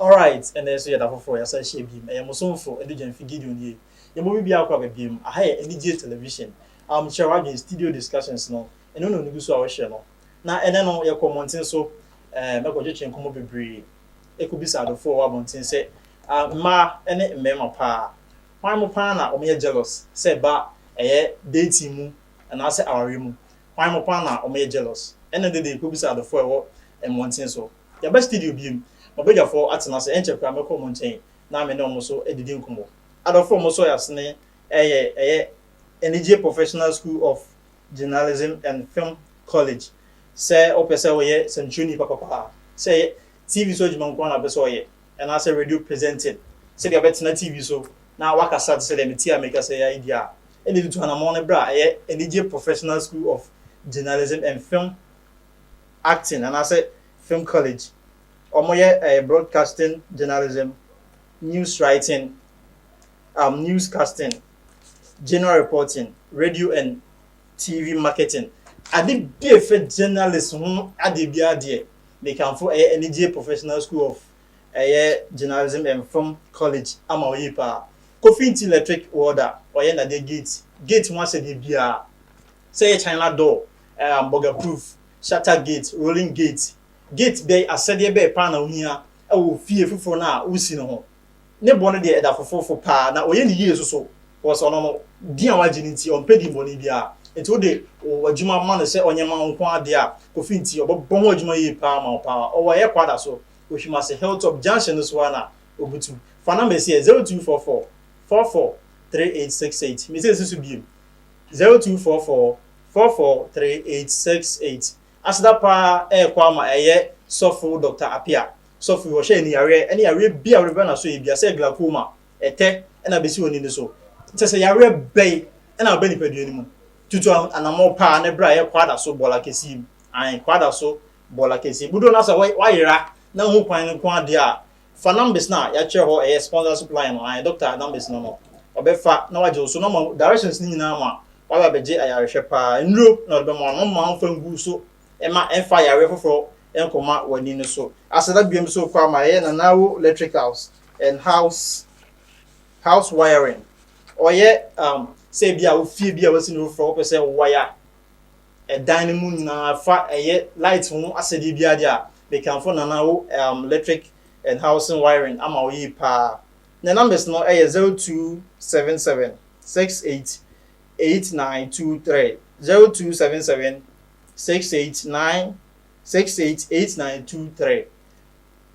Alright, ɛnna ɛso yɛ da foforɔ yɛasa ahyia biem. Ɛyɛ mo somfo Adugyanfi Gideon yie. Yɛn mu bibiara akɔ abɛbiem. Aha yɛ Anigyeɛ Television. Um, kyerɛ w'adwene, studio discussions no, ɛno na onigu so a wohwɛ no. Na ɛnɛ no, yɛkɔ mmɔnten so, um, ɛkɔtwetwe nkɔmmɔ bebree, ɛkɔbisa adɔfoɔ a wɔwɔ abɔnten sɛ, ah, mmaa ne mmarima paa, Hwan mu paa na wɔyɛ jealous, sɛ ɛba ɛyɛ dating mu anaasɛ awareɛ mu? Hwan mu paa na wɔyɛ jealous? Ɛnna ɛnnɛ deɛ kɔbisa adɔfoɔ a ɛwɔ mmɔnten so. Yɛaba studio bio. M'abadwafoɔ atena ase. Ɛnkyɛ koraa mɛkɔ wɔn nkyɛn na me ne wɔn nso adidi nkɔmmɔ. Adɔfoɔ a wɔsɔ yɛn asene reyɛ ɛyɛ anigyeɛ Professional School of Journalism and Film College. Sɛ wopɛ sɛ woyɛ sɛnkyerɛni papapaa, sɛ ɛyɛ TV so adwuma nko ara na wopɛ sɛ woyɛ, anaasɛ radio presenting, sɛdeɛ wobɛtena TV so na woakasa te sɛ deɛ mete ha merekasa yi ara yi deɛ a, ɛnna ɛtutu anammɔn no berɛ a ɛyɛ anigye Professional School of Journalism and Film Acting anaasɛ Film College. Wɔyɛ eh, broadcasting journalism, news writing, um, newscasting, general reporting, radio and TV marketing. Ade bi a ɛfa journalist ho ade biara deɛ, mekamfo ɛyɛ Anigyeɛ Professional School of ɛyɛ Journalism and Film College ama wɔn yie pa ara. Kofi Nti Electric Welder, ɔyɛ nnadeɛ gate, gate ho ahyɛdeɛ biara, sɛ ɛyɛ China door, ɛɛ burger proof, shutter gate, rolling gate, gate bɛn, ahyɛdeɛ bɛn pa ara na wohia wɔ fie foforɔ no a wosi no ho. Ne bo no deɛ ɛda fofofo paa, na ɔyɛ no yie nso so, because ɔno no, din a wagye no nti, ɔmpɛ din bɔne biara. Nti wode wo adwuma ma no sɛ ɔnyɛ ma wo nko ara deɛ a, Kofi nti, ɔbɛbɔ ho adwuma yie paa ama wo paa. Ɔwɔ ɛyɛ Kwada so, Oshimase Hilltop Junction no so ara na ɔbutu. Fa number yi sɛ, 0244 44 3868. Mese nsi so bio, 0244 44 3868. Aseda paa ɛɛkɔ ama ɛyɛ sɔfo Doctor Apia. Sɔfo yi ɔhyɛ aniyareɛ ɛne yareɛ bi a wode bɛba naso ebia sɛ glaucoma, ɛtɛ ɛna abɛsi w'ani no so. Kyɛsɛ yareɛ bɛn ɛna aba nipadua no mu? Tutu anamɔ paa ne bra yɛ kwada so bɔla kɛseɛ mu. Ae kwada so bɔla kɛseɛ mu. Dodoɔ no ara sɛ wayera na wohu kwan no nko ara deɛ a Fa numbers no a yɛakyerɛ hɔ ɛyɛ sponsorship line no, ae doctor numbers no no, ɔbɛfa na wagye wo so na ɔma directions no nyinaa ma waba abɛgye ayarehwɛ paa. Nnuro na ɔde bɛma wo no, mma mfa ngu so mma ɛmfa yareɛ foforɔ nkɔma w'ani no so. Ase na biom so kɔ ama ɛyɛ Nanawo Electricals and House House Wiring. Ɔyɛ um sɛ ebi a wo fie bi a wasi no foforɔ wopɛ sɛ wo wire. ɛdan no mu nyinaa fa ɛyɛ light ho asɛdeɛ biara deɛ a mekamfo Nana wo um, electric and housing wiring ama wo yie paa ne numbers no ɛyɛ 0277 68 8923 0277 689 688923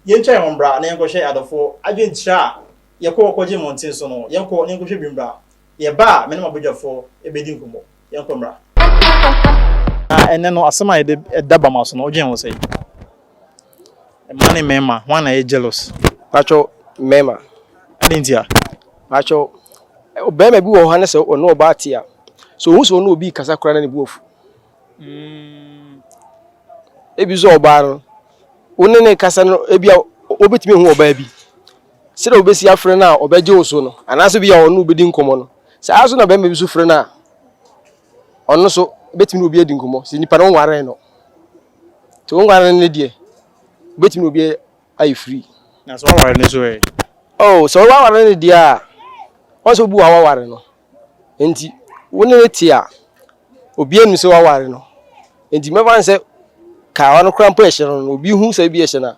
yɛntwa yɛn ho mbra na yɛnkɔhwɛ adɔfoɔ adwenkyerɛ a yɛkɔ kɔgye mmɔnten so no yɛnkɔ na yɛnkɔhwɛ bi mbra yɛba a me ne m'abadwafoɔ ɛbɛdi nkɔmmɔ yɛnkɔ mmra. Na ɛnɛ no asɛm a yɛde ɛda ba ma so no wodwen ho sɛ mmaa ne mmarima ho ana yɛ jealous patwɛ mmarima ɛne nti a patwɛ ɔbarima bi wɔ hɔ ne sɛ ɔne ɔbaa te a sɛ ɔhu sɛ ɔne obi kasa koraa na ne bu afu mm. ebi sɛ ɔbaa no wo ne ne kasa no ebi a wobɛtumi hu ɔbaa bi Sɛdeɛ wobɛsi afrɛ no a ɔbɛgye wo so no, anaasɛ bi a ɔne wo bɛdi nkɔmmɔ no, saa ara nso na barima bi nso frɛ no a, ɔno nso bɛtumi ne obi adi nkɔmmɔ, sɛ nipa no wonwaree no. Nti wonwaree no deɛ, wobɛtumi ne obi ayɛ free. Na sɛ woaware no nso ɛ? Oh, sɛ woaware no deɛ a, wɔn sɛ wobu wo a woaware no. Nti wo ne no te a, obiara nim sɛ woaware no. Nti mɛfa no sɛ kawa no koraa mpo ɛhyɛ no no, obi hu sɛ ebi ɛhyɛ no a,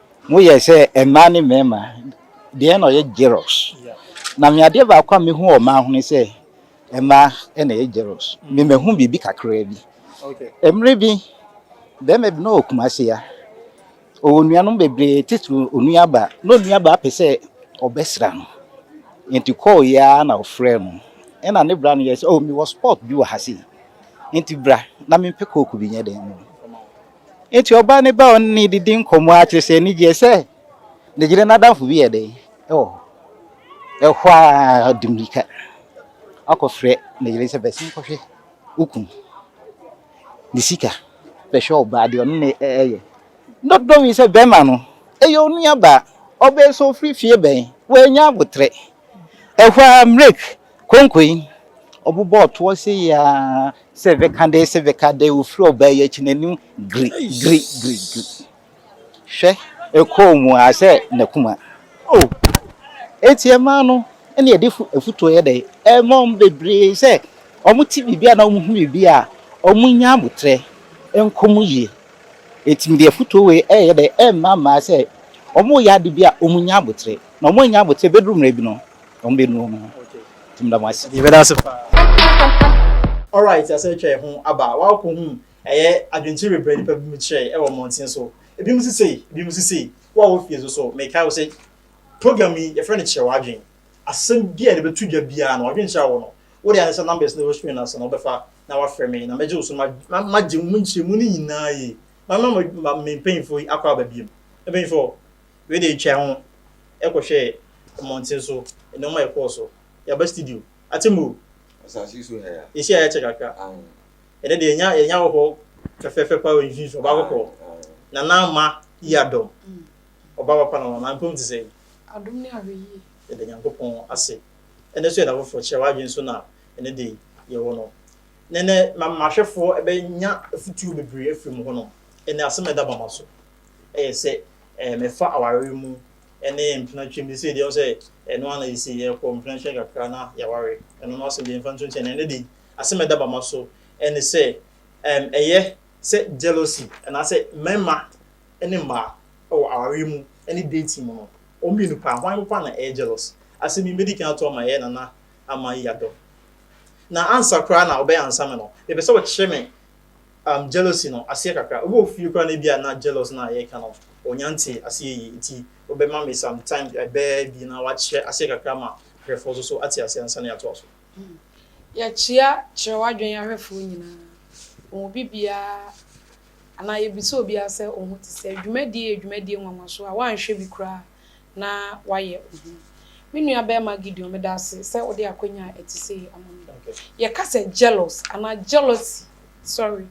Moyɛ sɛ mmaa ne mmarima. Deɛn na ɔyɛ jealous? Na me adeɛ baako a mehu wɔ mmaa ho ne sɛ mmaa na ɛyɛ jealous. Me mahu biribi kakraa bi. Mmerɛ bi barima bi na ɔwɔ Kumasi ha. Ɔwɔ nuanom bebree titiri onuabaa. Na onuabaa pɛ sɛ ɔbɛsra no. Nti call yi ara na ɔfrɛɛ no. Ɛna ne bra no yɛɛ sɛ oh mewɔ spot bi wɔ ha sei. Nti bra na mempɛ coke bi nyɛ dɛn mma wo. Enti ɔbaa no baa ɔne no didi nkɔmmɔ ara kyerɛ sɛ n'ani gyee sɛ ne yere no adamfo bi yɛ dɛn wɔ hɔ. Ɛhɔ ara ɔde mmirika akɔfrɛ ne yere sɛ bɛsen kɔhwɛ wo kunu. Ne sika bɛhwɛ ɔbaa deɛ ɔne no ɛyɛ. Dɔdɔ yi sɛ bɛrima no ɛyɛ onuabaa. Ɔbaa yi sɛ ɔfiri fie bɛn? Wannya aboterɛ. Ɛhɔ ara Mrek. Konko yi, ɔbobɔɔ toɔ sei aa, sɛ veka dee sɛ veka dee, ɔfiri ɔbaa yi akyi n'anim gri gri gri gri. Hwɛ, ɛkɔɔ mu aa sɛ n'akuma. Oh! Enti ɛmaa no ne ɛde afutuo yɛ dɛn? Ɛmaa wɔn bebree sɛ wɔte biribi anaa wɔhu biribi a, wɔnya aboterɛ, ɛnkɔ mu yie. Enti mede afutuo wei reyɛ dɛn? Rema mmaa sɛ wɔreyɛ ade bi a wɔnya aboterɛ. Na wɔanya aboterɛ bɛduru mmerɛ bi no, Wɔn bɛ nua mu. Tum da mo ase. Yɛ bɛ da ase paa. Alright, yɛasɛ atwa yɛn ho aba. Woakɔ hu ɛyɛ adwenkyerɛ bebree nipa bi mu kyerɛ ɛwɔ mmɔnten so. Ebi mu si sei, ebi mu si sei. Wo a wɔ fie nso so, mekae wo sɛ program yi yɛfrɛ no kyerɛ w'adwene. Asɛm bi a yɛde bɛto dwa biara no, adwenkyerɛ a wɔ no, wo deɛ ayɛ sɛ numbers no ɛwɔ screen no ase no wobɛfa na wafrɛ me na mɛgye wo so na magye wo mu nkyerɛmu no nyinaa yie. Mama me mpanyinfoɔ yi akɔ aba biom. Mpanyinfoɔ. Wei deɛ yɛtwaa ho kɔhwɛɛ mmɔnten so, nneɛma a ɛkɔɔ so. Yɛaba studio. Atemmuo! Asase so ha yi a. Yɛsi a yɛakyɛ kakra. Ɛnnɛ deɛ yɛnya yɛnya wɔ hɔ fɛfɛɛfɛ paa wɔ yɛn mfimfini, ɔbaa kɔkɔɔ. Nana Ama Yi Adom. Ɔbaa papa na wama. Mpem te sɛn? Adom ne ahwɛyie. Yɛda Nyankopɔn ase. Ɛnnɛ nso yɛ da foforɔ. Kyerɛ w'adwene so na ɛnnɛ deɛ yɛwɔ no. Nnɛ nnɛ, m'ahwɛfoɔ bɛnya afutuo bebree afiri mo hɔnom. Ɛnnɛ asɛm a ɛda bama so. yɛ sɛ mefa awareɛ mu ne mpena twam de sei deɛ sɛ ɛno ara na ɛsi yɛkɔ mpena nkyɛn kakra na yɛaware ɛno no asɛm deɛ mfa nto nkyɛn ɛno de asɛm ɛda bama so ɛne sɛ ɛyɛ sɛ jealousy anaasɛ mmarima ne mmaa wɔ awareɛ mu ne dating mu no wɔn mmienu paa hwan papa na ɛyɛ jealous asɛm yi mɛdi kan ato ama yɛ nana ama yi adɔ na ansa koraa na ɔbɛyɛ ansa me no mepɛ sɛ ɔkyerɛ me um jealousy no aseɛ kakra. Obi wɔ fie koraa na ebi a na jealous no a yɛreka no ɔnnya ntee aseɛ yie nti wobɛma me some time ɛbɛɛ abien na wakyerɛ aseɛ kakra ma ahwɛfoɔ nso so ate aseɛ ansa na yɛatoa so. Yɛkyea kyerɛ w'adwene ahwɛfoɔ nyinaa, wɔn mu bi biara anaa yɛbisa obiara sɛ wo ho te sɛn. Dwumadie yɛ dwumadie nwanwasoɔ a woanhwɛ bi koraa na wayɛ ohu. Me nuabarima Gideon, meda wo ase sɛ wode akwanya a ɛte sei ama me. Yɛka sɛ jealous anaa jealousy, sorry,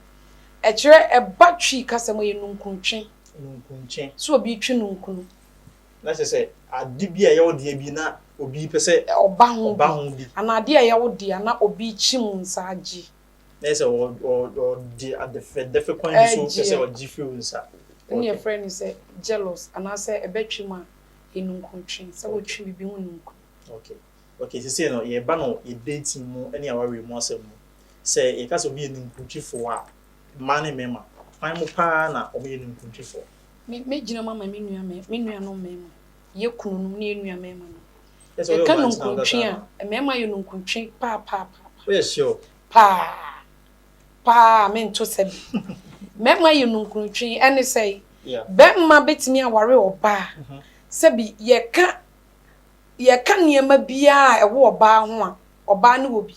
ɛkyerɛ, ɛba Twi kasa mu a ɛyɛ nunkuntwe. Nunkuntwe. Sɛ obi retwe nunkunu. Na kyerɛ sɛ ade bi a ɛyɛ wo dea bi na obi pɛ sɛ ɔba ho bi. Anaa ade a ɛyɛ wo dea na obi kyim nsa gye. na yɛ sɛ ɔde adɛfɛdɛfɛ kwan bi so pɛ sɛ ɔgye firi wo nsa. Ɛno na yɛfrɛ no sɛ jealous anaasɛ ɛbɛtwe mu a, anunkutwe, sɛ wotwe biribi ho nunku. Okay. Okay, seesei no yɛreba no yɛ dating mu ne awareɛ mu asɛm mu. Sɛ yɛka sɛ obi yɛ ninkutwefoɔ a, mmaa ne mmarima, hwan mu paa na wɔyɛ ninkutwefoɔ? Mɛgyina mu ama me nua me nuanom mmarima, yɛn kununom ne yɛn nua mmarima no. Yɛka nunkuntwe a, mmarima yɛ nunkuntwe paapaapa. Woyɛ sure? Paa. Paa a mento sɛ bi. Mmarima yɛ nunkuntwe. Ɛne sɛ, barima bɛtumi aware ɔbaa. Sɛbi yɛka yɛka nneɛma biara a ɛwɔ ɔbaa ho a, ɔbaa no wɔ bi.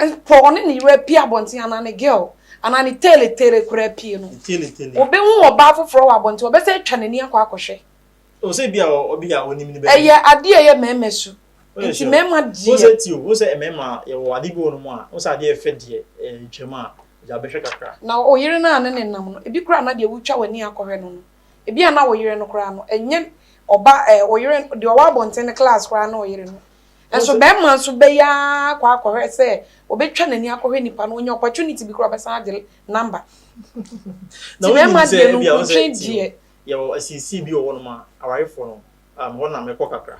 Mpo ɔne ne yere apue abɔnten anaa ne girl, anaa ne teletele koraa apue no, ɔbɛhu ɔbaa foforɔ wɔ abɔnten, ɔbɛsane atwa n'ani akɔ akɔhwɛ. O sɛ bi a ɔbi a onim ne bɛ. Ɛyɛ adeɛ ɛyɛ mɛɛma su. Nti mɛɛma deɛ. O sɛ ti o, o sɛ mɛɛma yɛ wɔ adeɛ bi wɔ nom a, o sɛ adeɛ fɛ deɛ ɛɛ twɛ mu a, gya bɛ hwɛ kakra. Na o yere no a ne ne nam no, ebi koraa na deɛ wo twa w'ani akɔ hwɛ no no, ebi a na o yere no koraa no, ɛnyɛ ɔba ɛɛ o yere no, deɛ ɔwɔ abɔnten no class koraa na o yere no. Nso bɛɛma nso bɛ yɛ ara kɔ akɔ hwɛ sɛ ɔbɛ twa n'ani akɔ hwɛ nipa no, onya opportunity bi koraa ɔbɛ san agye number. Nti mɛɛma deɛ no nkuntwe deɛ. Yɛwɔ asinsii bi wɔ hɔnom a awarefoɔ no um, hɔ na mekɔ kakra.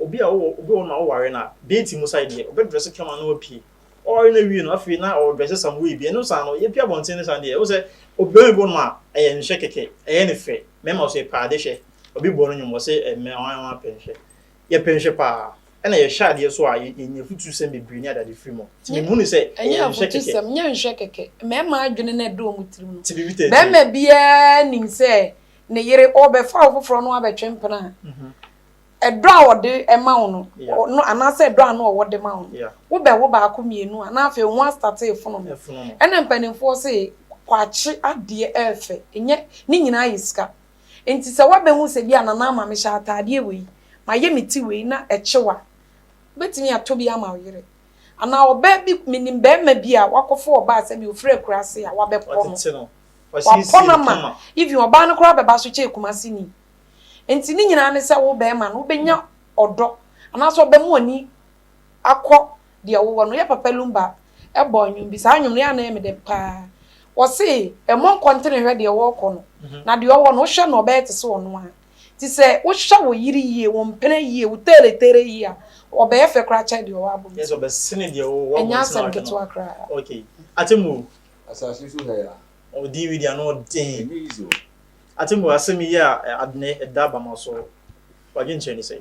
Obi a ɔwɔ obi wɔ hɔnom a ɔware no a, deeti mu sae deɛ, ɔbɛdrɛse kama na wapue. Ɔware no awie no, afei na ɔredrɛse some way bi. Ɛno saa no, yɛpue abɔnten no saa deɛ, wohu sɛ obiara bi wɔ hɔnom a ɛyɛ nhwɛ kɛkɛ, ɛyɛ no fɛ. Mɛma wo sɛ, pɛ ade hwɛ. Obi bɔ no nnwom, ɔse, ɛmmɛ, ɔan, ɔan, pɛ nhwɛ. Yɛpɛ nhwɛ paa, ɛna yɛhyɛ adeɛ so a yɛnya afutusɛm bebree ne adade firi mu. Nti me hunu sɛ ɛyɛ nhwɛ kɛkɛ. Ɛnyɛ afutusɛm, nyɛ nhwɛ kɛkɛ. Mmarima adwene na ɛda wɔn tirim no. Barima biara nim sɛ ne yere ɔrebɛfa ɔfoforɔ na wabɛtwe mpena a, ɛdɔ a ɔde ma wo no, anaasɛ ɛdɔ a na ɔwɔ de ma wo no, wobɛwo baako mmienu a, na afei wo ho astate refonono. Ɛna mpanimfoɔ se, kwakye adeɛ ɛyɛ fɛ, ɛnyɛ ne nyinaa yɛ sika. Enti sɛ woabɛhu sɛ bi a na ama mehyɛ ataadeɛ wei, mayɛ me ti wei na ɛkyew a, wobɛtumi atɔ bi ama wo yere. Anaa ɔbaa bi, menim barima bi a wakɔfa ɔbaa sɛdeɛ ɔfiri akuraase a wabɛpɔ no. Wapɔ no ama, even ɔbaa no koraa bɛba so kyɛɛ Kumaseni. Enti ne nyinaa ne sɛ wo barima no, wobɛnya ɔdɔ anaasɛ ɔbɛma w'ani akɔ deɛ wowɔ no yɛ papa lumba bɔɔ nwom bi saa nwom no yɛ ana yɛ me dɛ paa wɔse ɛmɔ nkɔntene hwɛ deɛ wɔkɔ no mhm. na deɛ ɔwɔ no wohwɛ no ɔbɛyɛ te sɛ ɔno a ti sɛ wohwɛ wo yiri yie wo mpene yie wo teereteere yie a ɔbɛyɛ fɛ koraa kyɛ deɛ ɔwɔ abom yes ɔbɛsene deɛ ɔwɔ ɛnyɛ asɛm ketewa koraa okay atemu asase so ha ya ɔdin wi deɛ ano ɔden atemu asɛm yi a adene ɛda abama so wadwenkyerɛ ne sɛ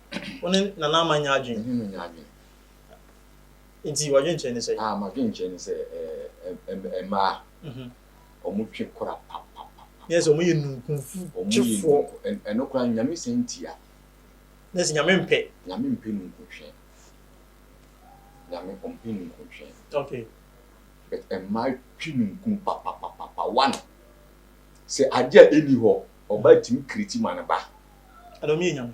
Wo ne Nana Ama nyɛ adwene? Me ne no nyɛ adwene. Nti w'adwenkyerɛ ne sɛn? Ah, m'adwenkyerɛ ne sɛ ɛɛ mmaa, wɔn twe kora papapapa. Ne yɛ sɛ wɔn yɛ nunkunfu twefoɔ. Ɛno koraa Nyame san tia. Ne yɛ sɛ Nyame mpɛ. Nyame mpɛ nunkuntwe. Nyame ɔmpɛ nunkuntwe. Okay. But mmaa twe nunkun papapapa. One, sɛ adeɛ a ɛni hɔ, ɔbaa tumi kreti ma ne ba. Ɛna wɔn yɛ Nyame.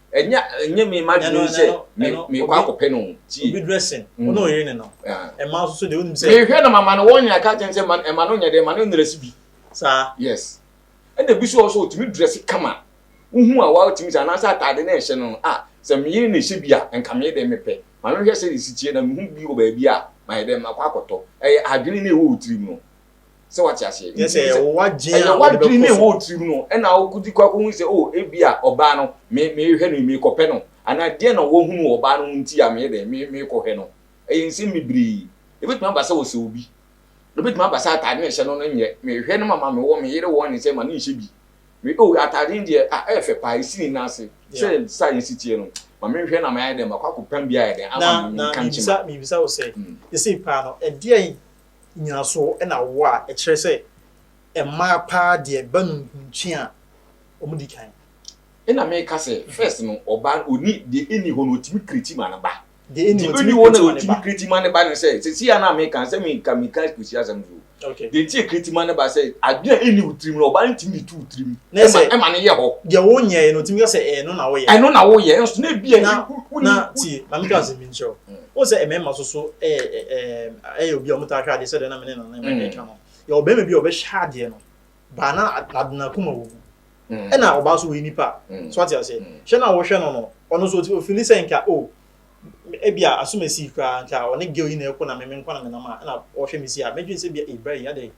Ɛnyɛ ɛnyɛ me m'adwene yi sɛ me mekɔ akɔpɛ no o. Tie. Obi dressing, wo ne ɔyere ne no. Mmaa nso so deɛ wonim sɛ. Mehwɛ na mama no warning aka akyerɛ no sɛ ma ɛma no nyɛ dɛ ma no ndrɛse bi. Saa. Yes. Ɛna ebi nso wɔ hɔ nso ɔtumi drɛse kama. Wohu a watumi sɛ anaasɛ ataade no a ɛhyɛ no no ah sɛ me yere na ɛhyɛ bi a nka me deɛ mepɛ. Ma me hwɛ sɛdeɛ ɛsi teɛ na mehu bi wɔ baabi a mayɛ dɛ makɔ akɔtɔ. Ɛyɛ adwene no a ɛwɔ wo tirim no. sɛ wate aseɛ Yes, Nti ɛyɛ sɛ- wo wadwen a ɛyɛ wode wadwene ne bɛkɔ ɛwɔ so. tirim no ɛna wokɔdi kɔ akɔhu sɛ o ebi a ɔbaa no me- mehwɛ no yi, meekɔpɛ no anaa deɛ na wahunu wɔ ɔbaa no ho nti a meyɛ dɛn me- meekɔhwɛ no ɛyɛ nsɛm bebree ɛbɛtumi aba sɛ ɔsɛ obi ɛbɛtumi aba sɛ ataade na ɛhyɛ no no nyɛ mehwɛ no mama me wɔ me yere wɔ ne sɛ ma no nhyɛ bi me o ataade no deɛ ah ɛyɛ fɛ paa ɛsi ne nan ase sɛ saa yɛsi teɛ no ma menhwɛ na mayɛ dɛn makɔ akɔpam bi ayɛ dɛn ama na me na nka nkyema mebisa mebisa wo sɛ Mm. ɛsei paa no ɛdeɛn nyinasoɔ na awoɔ a ɛkyerɛ sɛ mmaa paa deɛ ba no nkunkye a ɔmo di kan. Ɛna me ka sɛ first no ɔbaa no ɔni deɛ ɛni hɔ no ɔtumi kreti ma no ba. Deɛ ɛni hɔ ɔtumi kreti ma no ba. Kreti ma no ba no sɛ sɛsi a na me ka sɛ me ka me ka kusi asɛm so o. Deɛ nti a kreti ma no ba sɛ adeɛ a ɛni wo tirim no ɔbaa no ntumi de to wo tirim ɛma ɛma no yɛ hɔ. Deɛ wo nyɛɛ no ɔtumi ka sɛ ɛno na wo yɛ. Ɛno na wo yɛ nso na ebi a. Na na tie ma me ka asɛm bi nkyerɛ wo. Wohu sɛ mmarima nso so yɛ obi a wɔtaa hwɛ adeɛ sɛdeɛ na me ne Nana Mary ka no. Yɛwɔ barima bi a ɔbɛhwɛ adeɛ no, baa na n'ade n'akoma wɔ mu. Ɛna ɔbaa nso ɔyɛ nipa. So ate aseɛ? Hwɛ na wohwɛ no no, ɔno nso ɔfili sɛ nka o, ebia asom asi koraa, nka ɔne girl yi na ɛrekɔ na me me nko na menam a, ɛna ɔhwɛ me si a, mɛdwene sɛ ebia ei bra yi adɛn?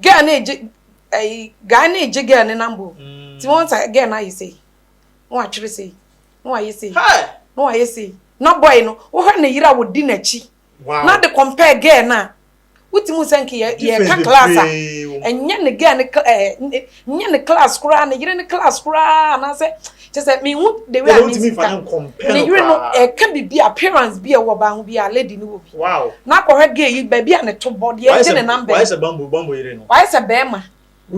girl no egye ɛyi guy no egye girl no number o ti wɔn sa girl no ayɛ sei na watwere sei na wayɛ sei na wayɛ sei na boy no wohwɛ ne yere a wodi n'akyi na de compare girl no a wotumi sɛ nke yɛ yɛ ka class a ɛnyɛ ne girl no ɛɛ Nyɛ ne class koraa, ne yere ne class koraa anaasɛ kyɛ sɛ mehu the way a ne nsi ka. Ne yere no ɛka biribi appearance bi a ɛwɔ ɔbaa ho bi a lady no wɔ bi. Na akɔhwɛ gay yi baabi a ne to bɔ, deɛ ɛgye ne number yi. Wayɛ sɛ bamboo, bamboo yere no. Wayɛ sɛ bɛɛma.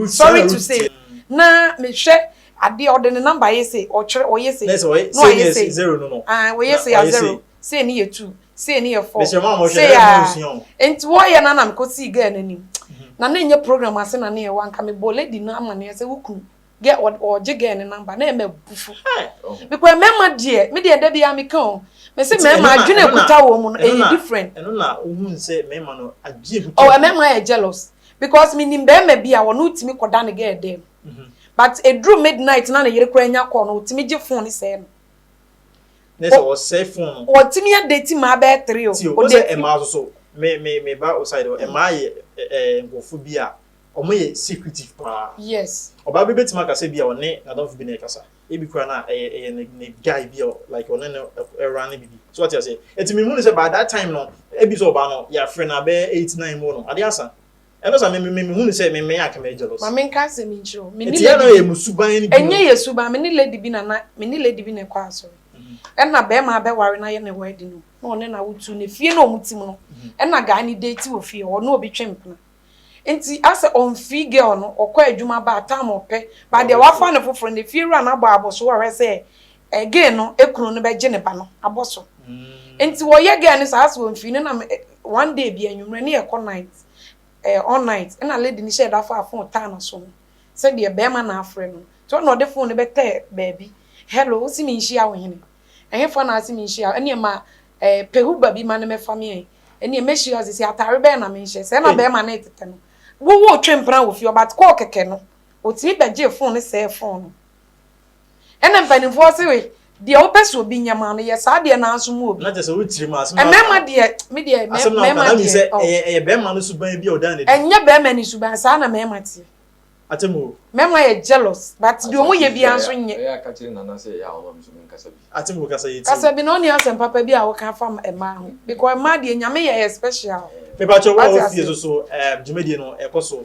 Sorry to say. Na mehwɛ adeɛ ɔde ne number ayɛ sei, ɔtwerɛ ɔyɛ sei. Na ɛsɛ ɔyɛ sei ne yɛ sei, zero no no. Aah ɔyɛ sei a zero, sei ne yɛ two. sei ne yɛ fɔɔ sei aa nti wɔ yɛ no ana mekɔ sii gɛɛ no anim na ne nyɛ program ase na ne yɛ wɔ anka me bɔ lady no ama ne yɛ sɛ wo kunu gɛ ɔgye gɛɛ ne namba na yɛ mɛ bufu bikɔ yɛ mɛma deɛ me deɛ da biara meka o me se mɛma adwene kuta wɔ mu no ɛyɛ different ɛno na ohun sɛ mɛma no adwene kuta ɔ mɛma yɛ jealous because me nim bɛɛma bi a wɔn no tumi kɔ da ne gɛɛ dɛm but eduru midnight na ne yere kura nya kɔɔ no otumi gye phone sɛɛ no. Ne sɛ ɔsɛe fon no. Ɔtumi yɛ date maa bɛyɛ three o. Tio, ɔsɛ ɛmaa so so. Me me me ba oside hɔ. Ɛmaa yɛ ɛɛ nkurɔfo bi a wɔn yɛ secretive paa. Yes. Ɔbaa bi betumi akasa bi a ɔne n'adamfo bi na ɛkasa. Ebi kura na ɛyɛ ɛyɛ ne ne guy bi a like ɔne no ɛra ne bibi. So ɔte ase. Ɛti mi hu ne sɛ by that time no ebi sɛ ɔbaa no yɛafrɛ no abɛyɛ eight nine mu no ade asa. Ɛno sa me me mehunu sɛ me me aka me jealous. Mame nka asɛm yi nkyerɛ wo. Me ne lady bi. Ɛti yɛ na yɛ mu suban bi. Ɛnyɛ yɛ suban. Me ne lady bi na na me ne lady bi na ɛkɔ asɔre. Ɛna bɛɛma abɛ ware na yɛ ne wedding no. Na ɔne na wo tu ne fie na ɔmo tim no. Ɛna guy ne date wɔ fie hɔ. Ɔne obi twe mpena. Nti asɛ ɔnfii girl no ɔkɔ adwuma baa time ɔpɛ baa deɛ wafa ne foforo no efie wura no abɔ aboso ɔhwɛ sɛ Gay no kunu no bɛgye ne ba no abɔ so. Nti wɔyɛ gay no saa sɛ wɔmfii no nam one day bi anwummerɛ ne ɛkɔ night ɛɛ all night ɛna lady no hyɛ da faa phone taa no so no sɛdeɛ bɛrima no afrɛ no nti ɔna ɔde phone no bɛtɛɛ baabi hello wose menhyia wo hene ɛhefa na ase menhyia ɛneɛ ma ɛɛ pehuba bi ma no mɛfa me ɛn ɛneɛ mɛhyia ɔse sɛ atare bɛn na menhyɛ sɛ ɛna bɛrima no tetɛ no wo wo twe mpena wɔ fie ɔbat kɔɔ kɛkɛ no ɔtumi bɛgyee phone no sɛɛ phone no. Ɛna mpanimfoɔ se deɛ wopɛ sɛ obi nyɛ maa no yɛ saa deɛ nanso mu obi. Na kyɛ sɛ wo tirim asɛm na mmarima deɛ me deɛ mmarima deɛ sɛ ɛyɛ ɛyɛ bɛrima no suban bi a ɔda ne. Ɛnyɛ bɛrima ne suban saa na mmarima teɛ. Atem o. Mmarima yɛ jealous but deɛ wɔn yɛ biara nso nyɛ. Ɛyɛ a ka kyerɛ Nana sɛ ɛyɛ a ɔma me so menkasa bi. Atem o kasa yɛtie. Kasa bi na ɔne asɛm papa bi a woka afa mmaa ho because mmaa deɛ Nyame yɛ yɛ special. Mepa kyɛw wo a wɔ fie nso so dwumadie no ɛkɔ so.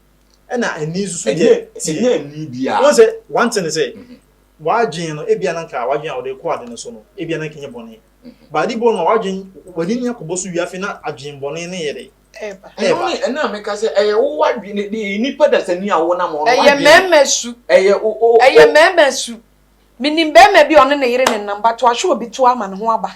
ɛna ani nso so yɛ tie. Ɛnyɛ ani biara. Wɔn sɛ one thing sɛ, wadwin no ebi ananka wadwin a wɔde kɔ ade no so no ebi ananka nyɛ bɔnne. Baadi bɔ no wadwin wani ni akɔbɔ so wia afei na adwin bɔnne no yɛ dɛ. Ɛba. Ɛno ne ɛna meka sɛ ɛyɛ wo wadwin ne de nipa dasani a wɔnam wɔn wadwin. Ɛyɛ mɛɛmɛ su. Ɛyɛ o o. Ɛyɛ mɛɛmɛ su. Minim bɛɛmɛ bi a ɔne ne yere ne nam but wahwɛ obi to ama ne ho aba.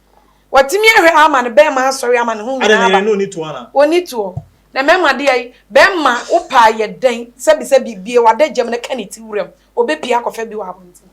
Watumi ahwɛ Alma no bɛɛma asɔre ama ne ho nyinaa aba. Adɛn na yɛn no ɔni toɔ anaa? Ɔni toɔ. Na mɛma deɛ yi, bɛɛma wo pɛ ayɛ dɛn sɛ bi sɛ bi bie w'ada gyam na ka ne ti wuram, ɔbɛpie akɔfɛ bi wɔ abɔnten.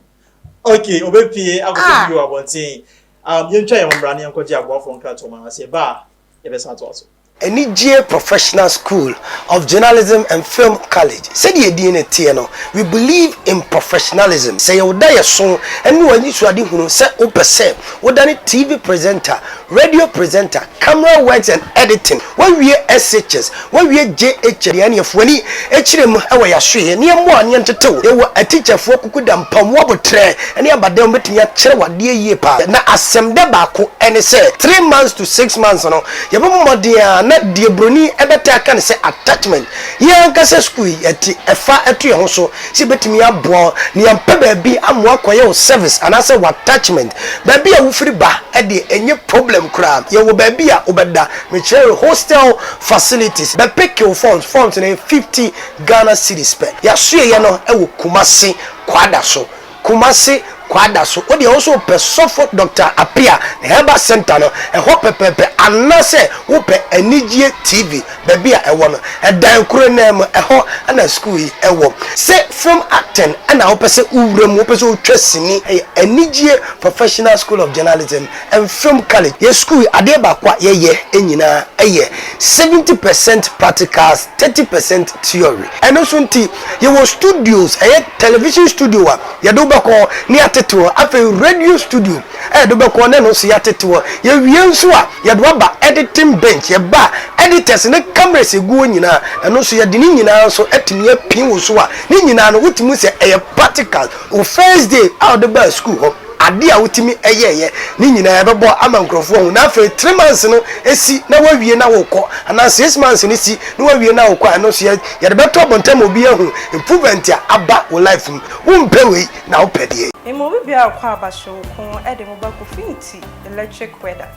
Ok, ɔbɛpie akɔfɛ bi wɔ abɔnten. Yɛntwa yɛn ho mmra na yɛnkɔgye aboafoɔ nkratoɔ ma no, na sɛ yɛba a, yɛbɛsan atoa so. Anigyeɛ Professional School of Journalism and Film College, Sɛdeɛ edin no teɛ no, we believe in professionalism. Sɛ yɛ wo daeɛso ne w'anisoadehunu sɛ wopɛ sɛ wodane TV presenter, radio presenter, camera works and editing, woawie SHS, Wɔawie JH deɛ ɛneɛ foani kyerɛ mu wɔ yasoeɛ ne ɛmmoɔ a ne ɛntetew ɛwɔ atikyafoɔ kukuda mpamu aboterɛ ne abadam bɛtumi akyerɛ wo adeɛ yie paa na asɛmdɛ baako ɛne sɛ three months to six months no yɛbɛbɔ mmɔden a na deɛ broni bɛtaa ka ne sɛ attachment yɛn ankasa sukuu yi yɛte ɛfa to yɛn ho so sɛ yɛbɛtumi aboa wo na yɛmpɛ baabi ama woakɔyɛ wo service anaasɛ wo attachment baabi a wofiri ba deɛ ɛnyɛ problem koraa yɛwɔ baabi a wobɛda Mekyerɛwee hostel facilities bɛ pekew forms, forms no yɛ fifty Ghana cedis pɛ. Yɛasoɛeɛ no wɔ Kumasi Kwadaso, Kumasi Kwadaso. Wo deɛ wo nso wopɛ Sɔfo Doctor Appiah ne Herbal Centre no, ɛhɔ pɛpɛɛpɛ. Anaasɛ wopɛ Anigyeɛ TV, baabi a ɛwɔ no, ɛdan koro no ara mu, ɛhɔ na sukuu yi wɔ. Sɛ film acting na wopɛ sɛ wowura mu, wopɛ sɛ wotwa sini, ɛyɛ Anigyeɛ Professional School of Journalism Mfam college yɛ sukuu yi adeɛ baako a yɛ yɛ nyinaa yɛ seventy percent practicals thirty percent theory ɛno nso nti yɛ wɔ studios ɛyɛ television studio a yɛde wo bɛkɔ ne yɛ atete hɔ afei radio studio a yɛde wo bɛkɔ ne ɛno nso yɛ atete hɔ yɛ wie nso a yɛde waba editing bench yɛ ba editors ne cameras egu hɔ nyinaa ɛno nso yɛde ne nyinaa nso atumi apin wo so a ne nyinaa no wotumi sɛ ɛyɛ practicals wo first day a wode baa sukuu hɔ. Ade a wotumi yɛeɛ no nyinaa ɛbɛbɔ ama nkurɔfoɔ ahu na afei three months no si na woawie na worekɔ anaa six months no si na woawie na worekɔ a ɛno nso yɛde bɛto abɔnten ama obi ahu improvement a aba wo life mu. Wompɛ wei na wopɛ deɛn? Emu obi bia ɔkɔ aba hyew ko de mo ba Kofinti electric weather.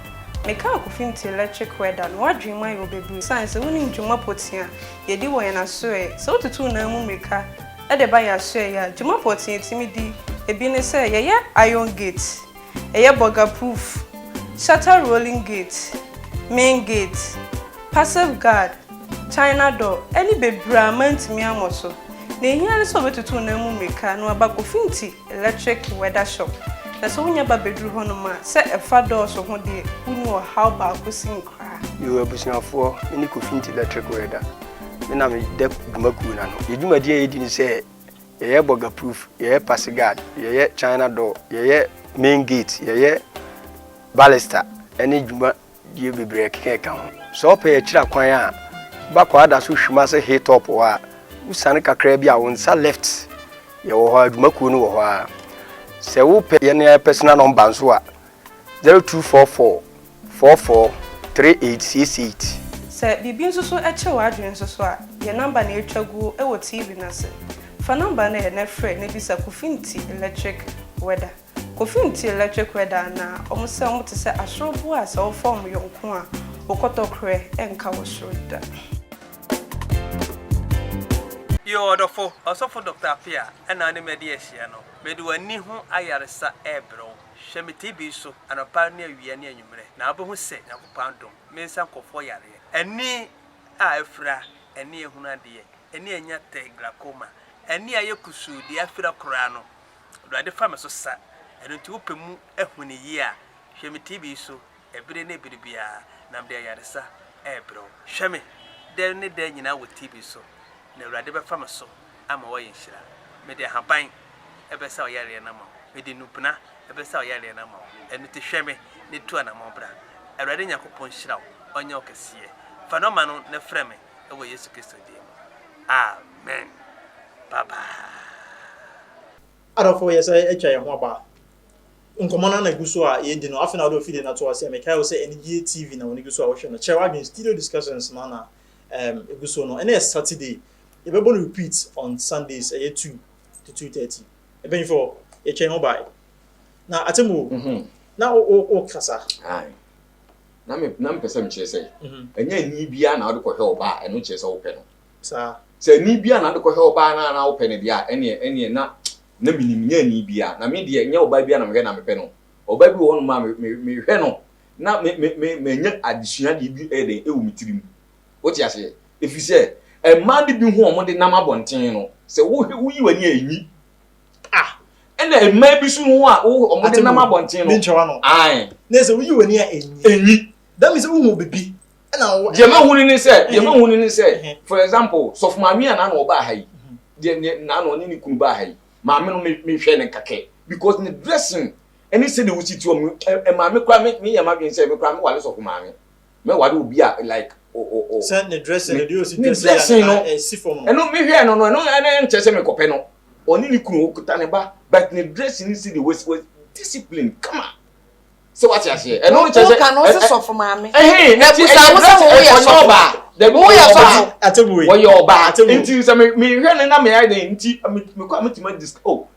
Me kaa Kofinti electric weather no wadwene mu ayɛ wo bebree esiane sɛ wonim dwuma potea yɛdi wɔ yɛn asoɛɛ sɛ wotutu wo nan mu mmirika Ɛde ba yɛn asoɛe a, dwuma pɔtee a yetumi di bi ne sɛ yɛyɛ iron gate, yɛyɛ burger-proof, shutter rolling gate, main gate, passive guard, china door, ne bebree a mantumi ammɔ so. Nea ehia ne sɛ obetutu wo nan mu mmirika na waba akofinti Electric Weather Shop, Na sɛ wonya ba bɛduru hɔnom a, sɛ ɛfa dɔɔso ho deɛ, wonni ɔhaw baako sin koraa. Yo abusuafoɔ, me ne Kofi Nti Electric Weather, me na me dɛ dwuma kuo no ano. Yɛ dwumadie a yɛdi ne sɛ, yɛyɛ bɔga proof, yɛyɛ pass guard, yɛyɛ China door, yɛyɛ main gate, yɛyɛ balista ɛne dwuma Deɛ bebree keka ka ho. Sɛ wopɛ yɛ kyira kwan a, ba kɔ ada so hwim ase hill top hɔ a, wosiane kakra bi a wo nsa left yɛ wɔ hɔ a, adwuma kuo no wɔ hɔ ara. Sɛ wopɛ yɛn yɛn personal number nso a, 0244 44 3868. Sɛ biribi nso so kyere w'adwene nso so a, yɛn number na ɛretwa guo wɔ TV no ase. Fa number no ɛ na frɛ na bisa Kofi Nti Electric Weather. Kofi nti electric weather anaa? Ɔmo sɛ ɔmo te sɛ asoro boɔ a sɛ wofa ɔmo yɔ nko a wo kɔtɔkorɛ ɛnka wɔ soro da. Yoo ɔdɔfo Ɔsɔfo Doctor Appiah ɛna ɔne me adi ahyia no, mede w'ani ho ayaresa ɛɛbrɛ wo, hwɛ me TB so anɔpa ne awia ne anwummerɛ, na wobɛhu sɛ Nyankopɔn adom, mensa nkorɔfoɔ yareɛ, ani a afira, ani a ɛhunu adeɛ, ani a anya tɛ, glaucoma, ani a ayɛ kusuu, deɛ afira koraa no, Awurade fa me so sa, ɛno nti wopɛ mu ahu no yie a, hwɛ me TV yi so ɛbere ne ɛbere biara, na mede ayaresa ɛrebrɛ wo. Hwɛ me dɛ ne dɛ nyinaa wɔ TV so, na Awurade bɛfa me so ama woayɛ nhyira. Mede ahaban ɛbɛsa wo yareɛ no ama wo, mede nnubena ɛbɛsa wo yareɛ no ama wo, ɛno nti hwɛ me na tu anamɔn bra. Awurade Nyankopɔn nhyira wo, ɔnyɛ wo kɛseɛ. Fa nɔma no na frɛ me. wɔ Yesu Kristo din mu, amen. Bye bye. Adɔfo, yɛsan atwa yɛn ho aba nkɔmmɔ no ara na egu so a yɛredi no. Afei na wode w'afidie no ato aseɛ. Mekae wo sɛ Anigyeɛ TV na w'ani gu so a wohwɛ no. Kyerɛ w'adwene, studio discussions no ara na um egu so no. Ɛnnɛ yɛ Saturday. Yɛbɛbɔ no repeat on Sundays, ɛyɛ two to two thirty. Mpanyinfoɔ, yɛtwa yɛn ho bae. Na Atemmuo, na wo wo wokasa. Aye. na me na mepɛ sɛ mekyerɛ sɛ ɛnyɛ ani biara na wode kɔhwɛ ɔbaa a ɛno kyerɛ sɛ wopɛ no saa sɛ ani biara na wode kɔhwɛ ɔbaa no a na wopɛ no deɛ a ɛneɛ ɛneɛ na na menim nyɛ ani biara na me deɛ nyɛ ɔbaa biara na mehwɛ na mepɛ no ɔbaa bi wɔ hɔ nom a me me mehwɛ no na me me me manya adesua deɛ bi ɛyɛ dɛn ɛwɔ me tirim wote aseɛ ɛfiri sɛ mmaa no bi ho wɔn de nam abɔnten no sɛ wohwɛ woyi w'ani a ɛnyi Ah, ɛna mmaa bi so ho a wɔn de nam abɔnten no. Ne nkyɛn wano. Ayi. Ne sɛ woyi wɔn ni a enyi. Enyi. Dami sɛ wohu bibi. Ɛna wɔn. Deɛ ma hu ni ni sɛ, deɛ ma hu ni ni sɛ, for example, sɔfo maame a n'ano ɔba aha yi, deɛ ne n'ano ɔne ne kunu ba aha yi, maame no me me hwɛ ne kakɛ because ne dressing ɛne sɛ de wosi ti wɔn, ɛ maame kura me me yɛ ma dwen sɛ me kura me wale sɔfo maame. mɛ ware obi a like o o o. Sɛ ne dressing no deɛ osi dressing no ɛsi fam no. Ɛno me hwɛɛ no no ɛno ɛno nkyɛ sɛ me kɔpɛ no ɔne ne kunu okuta ne ba but ne dressing no si de was was discipline kama sɛ wate aseɛ ɛno nkyɛ sɛ. Woka no ɔsi sɔfo maame. Ɛhɛn na ti ɛyɛ dressing no ɔyɛ ɔbaa dɛbi ɔyɛ ɔbaa ɔyɛ ɔbaa nti sɛ me me hwɛ no na me ayɛ dɛ nti me kɔ a me tuma dis oh.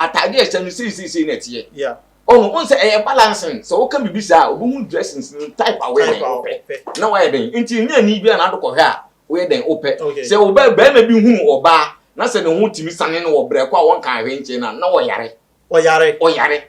Atade a ɛhyɛ no sei sei sei na ɛteɛ. Yeah. Ɔho, ɔhu sɛ ɛyɛ balancing. Sɛ woka biribi saa a, obehu dressings no type a woyɛ dɛn wopɛ. Na wayɛ dɛn? Nti nyɛ ani bia na ado kɔhwɛ a woyɛ dɛn wopɛ. Sɛ wo ba barima bi hunu ɔbaa na sɛ ne ho tumi sane no wɔ brɛ kɔ a wɔnkaa hwee nkyerɛ no a, na ɔyare. Ɔyare. Ɔyare.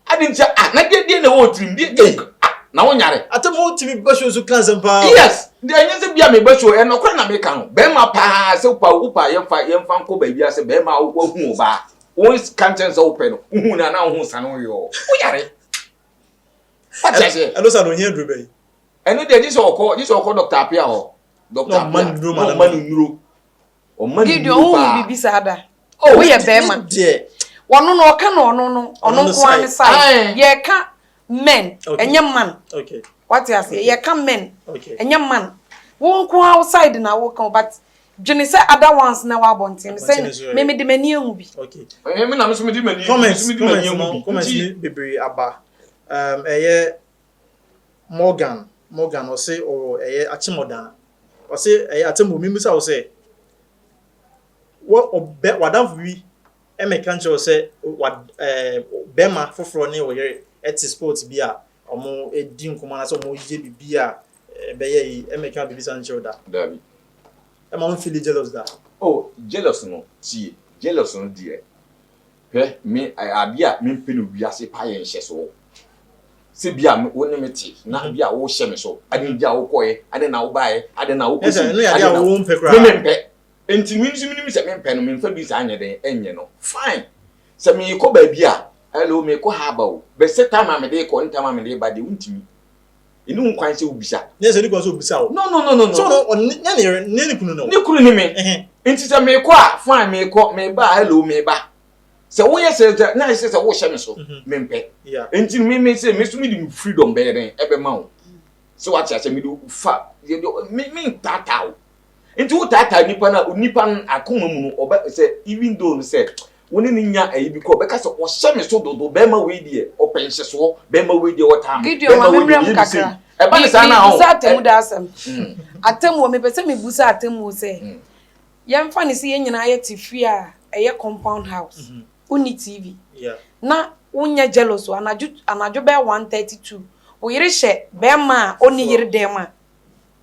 Adi nti ah na deɛ deɛ na ɛwɔ tirim deɛ ei ah na wo nyare. Atam hɔ tumi ba show so ka nsɛm paa o. Yes deɛ ɛnyɛ sɛ bia meba show ɛyɛ nɔkorɛ na meka no bɛrima paa sɛ wopa wopa yɛmfa yɛmfa nkɔ baabi asɛ bɛrima wahu ɔbaa wo ka nkyɛn sɛ wopɛ no wohu no anaa wohu sane wo yɔɔ wo nyare. Wate aseɛ. Ɛno sa no ohia duro bɛyi. Ɛno deɛ gye sɛ ɔkɔ gye sɛ ɔkɔ dɔkta apia hɔ. Dɔkta apia na ɔma no nnuro. Ɔma ne Gideon, wo hu bibi saa da? Oh, wo yɛ bɛrima. Wɔno no, ɔka no ɔno no, ɔno nko ara ne side. Yɛka men, ɛnyɛ man. Wate ase, yɛka men, ɛnyɛ man. Wo nko ara wo side na wo ka, but dwene sɛ other ones na ɛwɔ abɔnten no sɛ me mede m'ani ahu bi. Ɛnyɛ me na me so mede m'ani ahu bi. Comments, comments, comments bebree aba. Um, ɛyɛ Morgan Morgan ɔse ɔwɔ ɛyɛ akyemɔdaa ɔse ɛyɛ atemmu mimisa wo sɛ wɔ ɔbɛ wadanfo bi ɛmɛka nkyerɛ wo sɛ wa ɛɛ bɛma foforɔ ne ɔyere ɛte sport bi a ɔmo ɛdi nkɔmɔ anasɛ ɔmo yɛ bibi a ɛbɛyɛ yi ɛmɛka bibi sa nkyerɛ wo da dabi ɛma wo nfili jealous da oh jealous no tie jealous no deɛ Hwɛ, me, ade a mempɛ no wiase paa yɛ nhyɛso sɛ bi a wo ne me te, na bi a wohyɛ me so. Ade nti a wokɔeɛ, ade na wobaeɛ, ade na wokɔ sum, ade na wo mpɛ koraa. Me mempɛ. Enti me nso menim sɛ mempɛ no, memfa bi saa nyɛ dɛn nyɛ no. Fine. Sɛ merekɔ baabi a, hello, merekɔ ha aba o, but sɛ time a mede rekɔ ne time a mede reba deɛ, wontumi. Ɛni ho kwan sɛ wobisa. Nyɛ sɛ ɛni kwan sɛ obisa o. No no no no no. So no ɔno ne nyɛ ne yere nyɛ ne kunu no. Ne kunu ne me. Ɛhɛn. Nti sɛ mekɔ a fine mekɔ meba a hello meba. Sɛ woyɛ sɛ sɛ na ayɛ sɛ sɛ worehyɛ me so. Mempɛ. Yeah. Nti no me me sɛ me nso mede me freedom bɛyɛ dɛn ɛbɛma wo. So wate aseɛ mede wo fa yɛde me mentaataa wo. Nti wo taataa nipa na onipa no akoma mu no ɔbɛ sɛ even though no sɛ wo ne ne nya ayi bi kɔ ɔbɛka sɛ ɔhyɛ me so dodo bɛrima wei deɛ ɔpɛ nhyɛsoɔ bɛrima wei deɛ ɔtaa me bɛrima wei deɛ ɔyɛ mi sɛ ɛba ne saa na ho. Bisa atemu da asɛm. Mm. Atemu mepɛ sɛ mi busa atemu sɛ mm. yɛmfa ne sɛ yɛn nyinaa yɛ te fie a ɛyɛ compound house mm-hmm. wonni TV yeah. na wonyɛ jealous anadwo anadwo bɛyɛ one thirty two wo yere hyɛ bɛrima a ɔnni yere dɛm a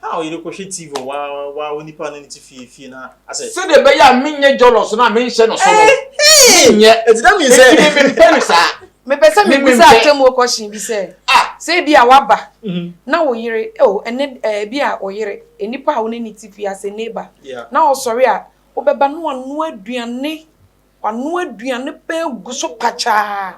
How yere kɔ hwɛ TV wɔ wɔ wɔ nipa no ne ti fie fie na asɛ. Sɛdeɛ ɛbɛyɛ a menyɛ jɔlɔs no a menhyɛ no so no. Menyɛ. Ɛti dɛ mi sɛ. Ɛti mi mempɛ no saa. Mepɛ sɛ mi bisa atemuo kɔhyen bi sɛ. Ah. Sɛ ebi a waba. Mhm. Na wo yere o oh, ɛnɛ eh, ebi a wo yere nipa a wo ne ne ti fie asɛ neighbor. Yeah. Na ɔsɔre a wobɛba na wanoa aduane Wanoa aduane pɛn agu so pakyaa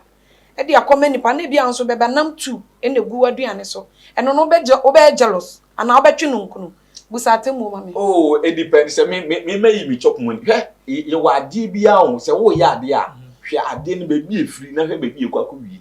de akɔma nnipa, na ebia nso bɛba nam tu na egu w'aduane so. Ɛno no wobɛyɛ jealous anaa wobɛtwe no nkunu? Busa atemmuo ma me. Oh, edepend sɛ me me mayi me chop money. Hwɛ, yɛwɔ adeɛ bi ara o, sɛ woreyɛ adeɛ a, hwɛ adeɛ no baabi a efiri na hwɛ baabi a ekɔ akɔwie.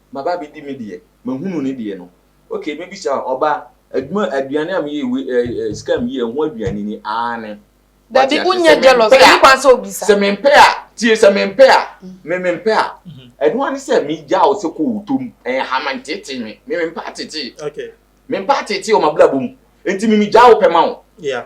maba abɛdi me deɛ, mahunu ne deɛ no. Okay, mɛbisa wo, ɔba, adwuma, aduane a meyɛ wei, eh, eh, sika a meyɛ, ɛho aduane ni? Aane. Dabi, Wate ase? wonyɛ Sɛ jealous, mempɛ a, ɛni kwan sɛ obisa. Sɛ mempɛ a, tie, sɛ mempɛ a, me, mempɛ a, ɛno ara ne sɛ megyaa wo sɛ kɔ wo tɔ mu, ɛnha me, nteetee me, me, mempɛ ateetee. Okay. Mempɛ ateetee wɔ m'abrabɔ mu, enti me, megyaa wo pɛ ma wo. Yeah.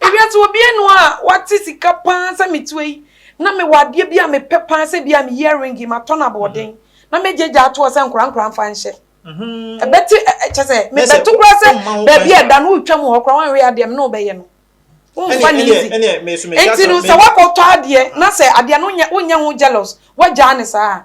Ewiase obianu a wate sika paa sɛ me tua yi na mewɔ adeɛ bi a mepɛ paa sɛ bi a me earring matɔ no aboɔden na mɛgyagya atoɔ sɛ nkora nkora mfa nhyɛ ɛbɛte kyɛ sɛ mebɛto kora sɛ baabi a ɛda no wotwa mu hɔ kora wanwe adeɛ me ne wobɛyɛ no womfa ne easy nti no sɛ wakɔtɔ adeɛ na sɛ adeɛ no wonyɛ ho jealous wagyaa ne saa a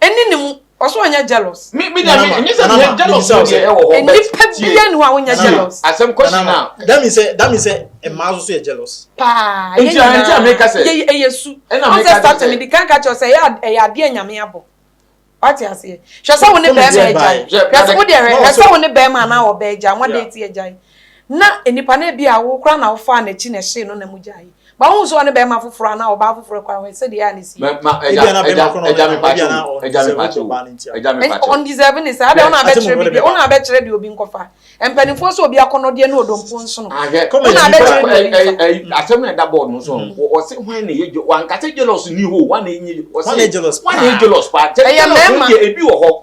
Ɛnni ne mu. Ɔsɛ ɔnyɛ jealous. Me me deɛ me enye sɛ me jealous no deɛ ɛwɔ hɔ but nipa bi yɛ ni hɔ a wonyɛ jealous. Asɛm kɔsi na. That means sɛ that means sɛ mmaa nso so yɛ jealous. Paa yɛ nyinaa. Nti a meka sɛ. Yɛ ɛyɛ su. Ɛna meka sɛ. Ɔn sɛ start mi di kan ka kyerɛ sɛ ɛyɛ ɛyɛ adeɛ a nyame abɔ. Wate aseɛ. Hwɛ sɛ wo ne bɛrima agya yi. Hwɛ sɛ wo deɛ hwɛ hwɛ sɛ wo ne bɛrima anaa ɔbaa agya wɔn date agya yi na nipa no ebi a wo kora na wo faa n'akyi na ɛhyee no na mo gya yi. Ba hu sɛ ɔne bɛrima foforɔ anaa ɔbaa foforɔ kɔ ahwɛ sɛdeɛ a ne si yɛ. Ma ɛgya ɛgya ɛgya me pakyɛ o ɛgya me pakyɛ o ɛgya me pakyɛ o. On deserve ne saa adɛn wo na abɛkyerɛ bibi wo na abɛkyerɛ deɛ obi nkɔfa mpaninfoɔ sɛ obi akɔnɔdeɛ ne odompo nsono wo na abɛkyerɛ deɛ obi nfa. Asɛm na ɛda bɔɔd no so no ɔse hwan na ɛyɛ wanka sɛ jealous ni hɔ o hwan na ɛnyɛ hwan na ɛyɛ jealous paa jealous no deɛ ebi wɔ hɔ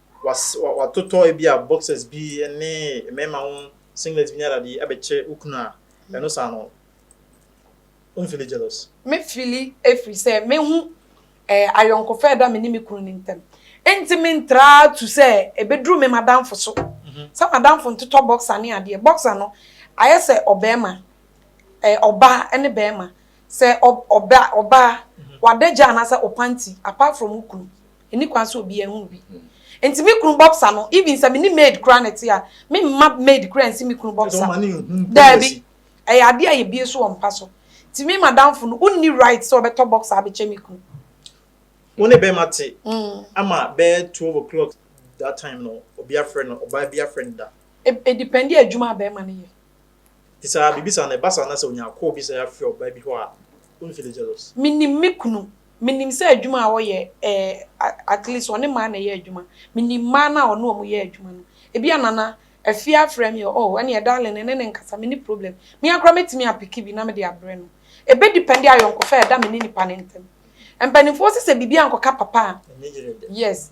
was watotɔ ebi a boxers bi ne mmarima ho singlet bi ne adade yi abɛkyɛ wo kunu a, ɛno saa no womfili jealous? Me fili ɛfiri sɛ me hu ɛɛ ayɔnkofa a ɛda me ne me kunu no ntam. Ɛnti me ntraa tu sɛ ɛbɛduru me m'adamfo so sɛ m'adamfo ntotɔ boxer ne adeɛ. Boxer no ayɛ sɛ ɔbɛɛma ɛɛ ɔbaa ɛne bɛɛma sɛ ɔb ɔba ɔbaa wadagya anaasɛ ɔpanti apart from wo kunu. Nni kwan sɛ obiara hu bi. Nti me kunu bɔbsa no, even sɛ me ne maid koraa na ɛte a, me mma maid koraa nsi me kunu bɔbsa. Daabi. Ɛyɛ adeɛ a yɛbue so wɔ mpa so. Nti me madamfo no, wonni right sɛ ɔbɛtɔ bɔbsa abɛkyɛ me kunu. Wo ne bɛrima te ama bɛyɛ twelve o'clock that time no, obi afrɛ no, ɔbaa bi afrɛ no da? Ɛdependi adwuma a bɛrima no yɛ. Nti saa biribi saa no ɛba saa na sɛ onya call bi sɛ yɛafrɛ ɔbaa bi hɔ a wonfili jealous? Menim me kunu, menim sɛ adwuma a ɔyɛ ɛɛ at least ɔne mmaa na ɛyɛ adwuma, menim mmaa no a ɔne wɔn yɛ adwuma no. Ebia Nana, Afie afrɛ me ɔ oh ɛneɛ darling me ne no nkasa menni problem. Me ara koraa mɛtumi apeke bi na mede abrɛ no. Ɛbɛ depende ayɔnkofa a ɛda me ne nipa no ntam. Mpanimfoɔ se sɛ biribi ankɔka papa a, yes.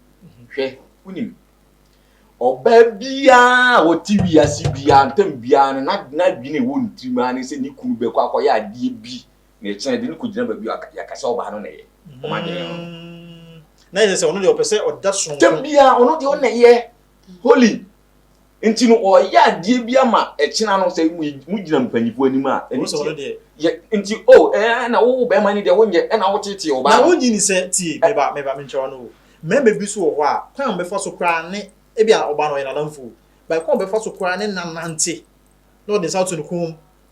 Hwɛ, wonim, ɔbaa biara a ɔte wiase biara ntam biara no, n'adwene ɛwɔ ne tirim ara ne sɛ ne kunu bɛkɔ akɔyɛ adeɛ bi na ɛkyena de no kɔgyina baabi a yɛaka sɛ ɔbaa no na ɛyɛ. Wɔn adwene no. Mm. Na ɛsɛ sɛ ɔno deɛ ɔpɛ sɛ ɔda soronko. Tam biara ɔno deɛ ɔna ɛyɛ holy. nti no ɔyɛ adeɛ bi ama ɛkyena no sɛ mo gyina mpanyinfoɔ anim a ɛne tie yɛ nti o oh, ɛɛ na wo bɛrima ni deɛ wonyɛ ɛna wo tete ɔbaa na wonyi ni sɛ tie meba meba menkyerɛ no o mɛmɛ bi so wɔ hɔ a kwan a bɛfa so koraa ne ebi a ɔbaa no ɔyɛ nanamfo ba kwan a bɛfa so koraa ne nanante na ɔde nsa to ne kɔn mu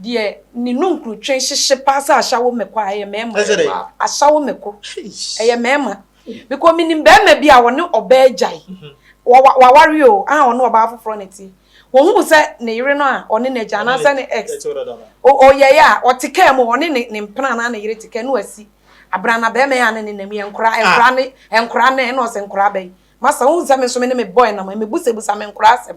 Deɛ ne nunkurutwe hyehye paa sɛ ashawo meko a ɛyɛ mɛɛma. Ɛsɛ dɛn? Ashawo meko. Eish. Ɛyɛ mɛɛma. Because menim bɛɛma bi a wɔne ɔbaa agyae. Mhm. Wɔwa waware o, aha ɔne ɔbaa foforɔ na ɛteɛ. Wɔhuu sɛ ne yere no a ɔne no agyae Ɔne anaasɛ ne ex. ɛtew dada no. O ɔyɛeɛ a, ɔte kaa mu, ɔne ne ne mpena anaa ne yere te kaa, na wasi abrana bɛɛma yi a ne ne nam yi, ɛnkoraa, Ah. ɛnkoraa ne, ɛnkoraa nɛɛ, na ɔse nkoraa bɛn. Masa, wohu sɛ me nso me ne me boy nam a, mebusabusa me nkoraa asɛm.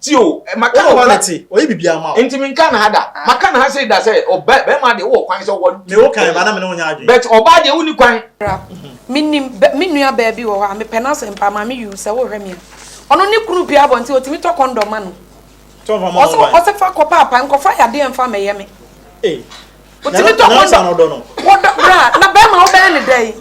ti o eh, maka no hɔ te ɔyɛ bibi ama o nti mi nka na ha da ah. maka na ha sei da sɛ ɔbɛ oh, bɛrima deɛ wɔ kwan sɛ wɔ mi wo kan ba na mi ne wo nya adwene but ɔbaa deɛ wo ni kwan. mi nim mi nua baabi wɔ hɔ a mi pɛ n'asɛm mpa maame yiw sɛ wo hwɛ mi a ɔno ne kunu pia abɔ nti otumi tɔ kɔndɔm ma no ɔsɛ ɔsɛ fa kɔ paapa nkɔfa yadeɛ nfa mɛyɛ mi. Eh. wotumi tɔ kɔndɔm wɔdɔ bra na bɛrima wobɛyɛ ne dɛ yi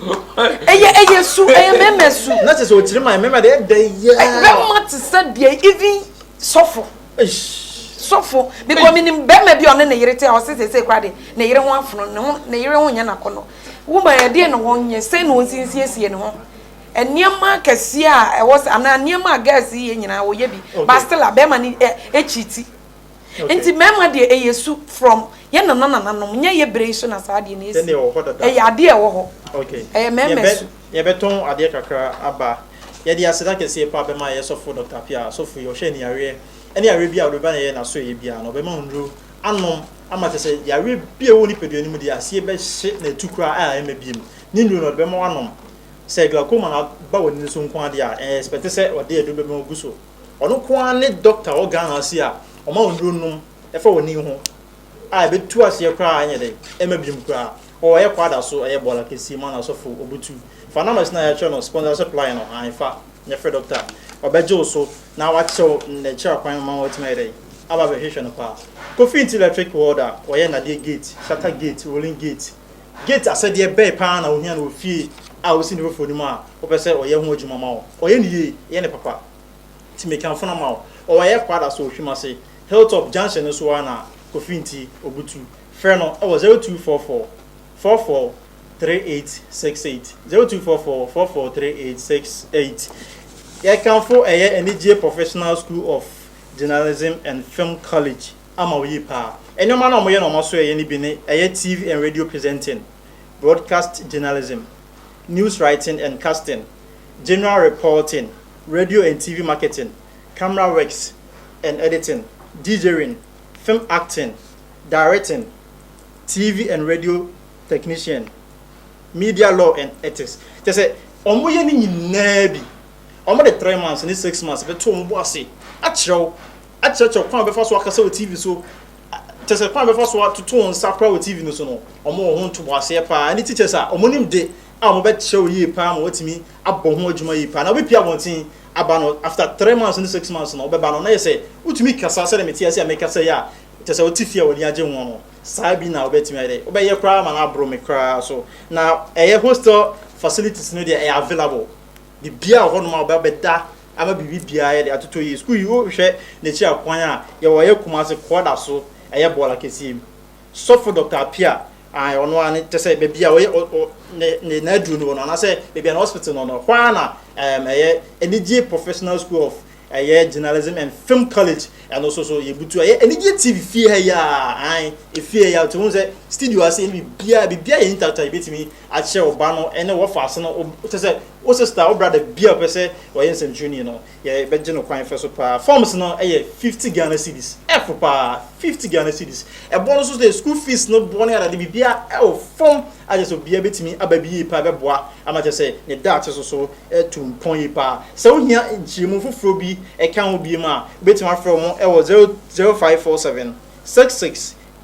ɛyɛ ɛyɛ su ɛyɛ mɛmɛ su na te sɛ ɔkyiri ma mɛmɛ deɛ ɛdɛ yɛ bɛrima te sɛ deɛ even sɔfo sɔfo bikɔ menim bɛrima bi ɔne ne yere te a ɔse sese kora de ne yere ho afono ne ho ne yere ho nyɛ n'akɔnɔ woma ɛdeɛ na wɔnyɛ sɛn na wɔnsinsiesie ne ho nneɛma kɛseɛ a ɛwɔ sɛ anaa nneɛma a gɛɛse yɛ nyinaa wɔyɛ bi bastila bɛrima ne ɛkyiti Nti mmarima deɛ ɛyɛ su from yɛ nana nananom nyɛ yɛ berɛ yi so na saa adeɛ no asi. Ɛyɛ adeɛ a ɛwɔ hɔ. Ɛyɛ mmarima su. Yɛbɛtɔn adeɛ kakra aba. Yɛde aseda kɛseɛ paa bɛma yɛ sɔfo Doctor Appiah. Asɔfo yi ɔhwɛ aniyareɛ ɛne yareɛ biara a ɔde bɛba na yɛyɛ no aso ɛyɛ biara no ɔbɛma wo nnuro anom ama kyerɛ sɛ yareɛ biara ɛwɔ wo nipadua no mu deɛ aseɛ bɛhye na atu koraa a ɛmma biom ne nnuro no ɔde bɛma wo anom. Sɛ glaucoma no aba w'ani no so nko ara deɛ a ɛyɛ expect sɛ ɔde aduro bɛma wo gu so. Ɔno nko ara ne doctor wɔ Ghana ase a ɔma wo nnuro nom ɛfa w'ani ho a ɛbɛtu aseɛ koraa ɛnyɛ dɛ ɛma biom koraa. Ɔɔ ɛyɛ kwada so ɛyɛ bɔɔla kɛseɛ mu ana sɔfo ɔbutu. Fa numbers no a yɛakyerɛ no sponsor supply no ae fa na frɛ doctor ɔbɛgye wo so na wakyerɛ wo n'akyiri akwan ama woatumi ayɛ dɛ aba abɛhwehwɛ no paa. Kofi nti electric welder, ɔyɛ nnadeɛ gate, shutter gate, rolling gate, Gates asɛdeɛ bɛn pa ara na ɔhia no wɔ fie a ɔsi ne foforɔ no mu a wopɛ sɛ ɔyɛ ho adwuma ma wo? Ɔyɛ no yie, yɛ no papa. Nti meka mfona ma wo. Ɔyɛ Prada so ɔhwim ase, Hilltop junction no so ara na Kofi Nti, Obutu. Frɛ no wɔ 0244 44 3868, 0244 44 3868. Yɛkamfo ɛyɛ anigyeɛ Professional School of Journalism and Film College. ama wo yie paa. Nnoɔma no a wɔyɛ na wɔasoɛeɛ no bi ne, ɛyɛ TV and Radio Presenting, Broadcast Journalism, News Writing and Casting, General Reporting, Radio and TV Marketing, Camera Works and Editing, DJing, Film Acting, Directing, TV and Radio Technician, Media Law and Ethics. Kyerɛ sɛ, wɔyɛ ne nyinaa bi. Wɔde three months ne six months bɛto wɔn bo ase akyerɛ wo. akyerɛkyerɛ kwan a wɔbɛfa so akasa wɔ TV so, kyerɛ sɛ kwan a wɔbɛfa so atoto wɔn nsa koraa wɔ TV no so no, wɔwɔ ho ntoboaseɛ paa. Ɛne teachers a wɔnim de a wɔbɛkyerɛ wo yie paa ma woatumi abɔ ho adwuma yie paa. Na wobɛpie abɔnten aba no, after three months ne six months no, wobɛba no na yɛ sɛ wotumi kasa sɛdeɛ mete ase a mekasa yi a, kyerɛ sɛ wote fie a w'ani agye ho no. Saa bi na wobɛtumi ayɛ dɛ, wobɛyɛ koraa ma no aboro me koraa so. Na ɛyɛ hostel facilities no deɛ ɛyɛ available, biribiara wɔ hɔnom a wobɛda ama biribi biara yɛde atotɔ yie sukuu yi wohwɛ n'akyi akwan a yɛwɔ ɛyɛ Kumase kɔɔda so ɛyɛ bɔɔl akɛseɛ mu sɔfo Doctor Apia ae ɔno ara ne kyɛ sɛ baabi a ɔyɛ ɔ ɔ ne ne n'aduro no wɔ no anaasɛ baabi a ne hospital no no hɔ ara na ɛɛm ɛyɛ anigye professional school of ɛyɛ journalism and film college ɛno so so yɛbutu ɛyɛ anigye tv fie ha yi a ae efie ha yi a ɔtumi sɛ studio ase ɛne biribiara biribiara yɛ intact a yɛbɛtumi akyerɛ wo ba no ne wɔfa ase no, kyerɛ sɛ wo sista, wo brada bi a ɔpɛ sɛ ɔyɛ nsɛmtwerɛni no, yɛbɛgye no kwan fɛ so paa. Forms no yɛ fifty Ghana cedis, ɛfo paa, fifty Ghana cedis. Ɛbɔ no so sɛ school fees no bɔ ne adade biribiara ɛwɔ fam a kyerɛ sɛ obiara bɛtumi aba bi yie paa bɛboa ama kyerɛ sɛ ne daakye so so atu mpɔn yie paa. Sɛ wohia nkyerɛmu foforɔ bi ɛka ho biom a, wobɛtumi afrɛ wɔn ɛwɔ zero zero five four seven six six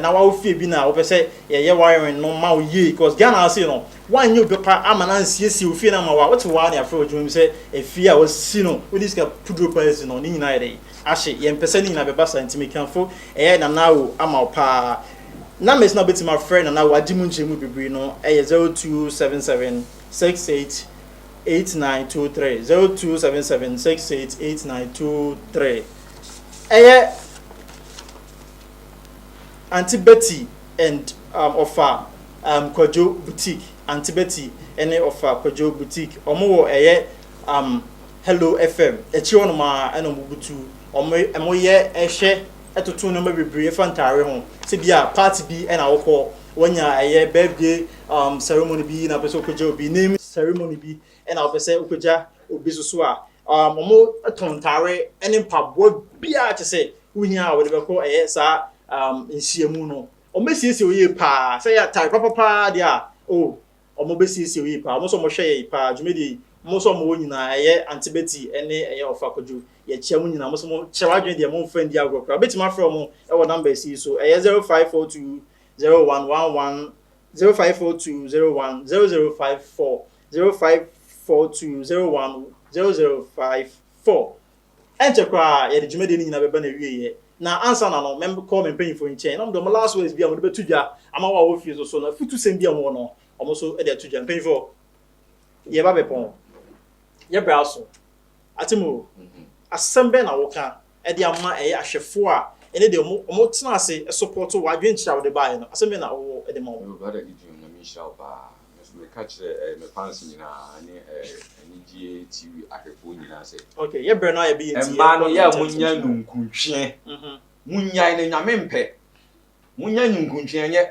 na wa wo fie bi na wo pɛ sɛ yɛ yɛ wiring no ma wo yie cause Ghana ha sei no wa nyɛ obi pa ama na nsiesie wo fie no ama wo a wo te hɔ a na yafrɛ wo adwuma mu sɛ efie a wasi no wo de sika puduro pa asi no ne nyinaa yɛ dɛn ahye yɛn pɛ sɛ ne nyinaa bɛba saa nti me kanfo ɛyɛ Nana Awo ama wo paa numbers na wo bɛtumi afrɛ Nana Awo agye mu nkyerɛ mu bebree no ɛyɛ zero two seven seven six eight eight nine two three zero two seven seven six eight eight nine two three ɛyɛ. Aunty Betty and um, Ɔfa um, Kwadwo Boutique, Aunty Betty ne Ɔfa Kwadwo Boutique, wɔn wɔ ɛyɛ um, Hello FM, akyire hɔ nom ara ɛna wɔn butu, wɔn wɔn yɛ ɛhwɛ ɛtoto nneɛma bebree ɛfa ntaare ho, sɛ bi a party bi ɛna wɔkɔ, wɔnya ɛyɛ birthday um, ceremony bi na pɛ sɛ wɔkɔgya obi name ceremony bi Ɛna ɔpɛ sɛ ɔpagya obi so so a, um, wɔtɔn ntare ne mpaboa biara kyɛ sɛ wohia a wɔde bɛkɔ ɛyɛ saa um, nhyiamu no. Wɔbɛsiesie wo yie paa. Sɛ yɛ atare papapaa deɛ a, o, oh, wɔbɛsiesie wo yie paa. Wɔn nso wɔhwɛ yɛ paa. Dwumadie yi, wɔn nso wɔn wɔ nyinaa. Ɛyɛ Ante Betty ne ɛyɛ Ɔfa Kwadwo. Yɛkyia mu nyinaa. Wɔn nso wɔkyerɛ w'adwene deɛ wɔn mfa ndi agorɔ koraa. Wobɛtumi afrɛ wɔn wɔ numbers yi so. Ɛyɛ 0542 0111 Zero five four two zero one zero zero five four zero five four two zero one zero zero five four. Ɛnkyɛ koraa yɛde dwumadie no nyinaa bɛba n'awieeɛ, na ansa na no mɛkɔ me mpanyinfoɔ nkyɛn na wɔn de wɔn last words bi a wɔn de bɛto dwa ama wɔn a wɔwɔ fie so so no afutusɛm bi a wɔn wɔ no wɔn nso de ato dwa. Mpanyinfoɔ, yɛba bɛpɔn, yɛbrɛ aso, ate mo o, asɛm bɛn na wɔka de ama ɛyɛ ahwɛfoɔ a, ɛne deɛ wɔn, wɔn tena ase support wo adwenkyerɛ a wode baeɛ no. Asɛm bɛn na wowɔ de ma wɔn? Hello brother Gideon Nyame nhyira wo paa me so me ka kyerɛ eh me fans nyinaa ne eh Anigyeɛ TV ahwɛfoɔ nyinaa sɛ, Okay yɛ brɛ no a yɛ bɛyɛ nti mmaa no yɛ a mo nya nunkuntweɛ mo nyae no Nyame mpɛ mo nya nunkuntweɛ ɛnyɛ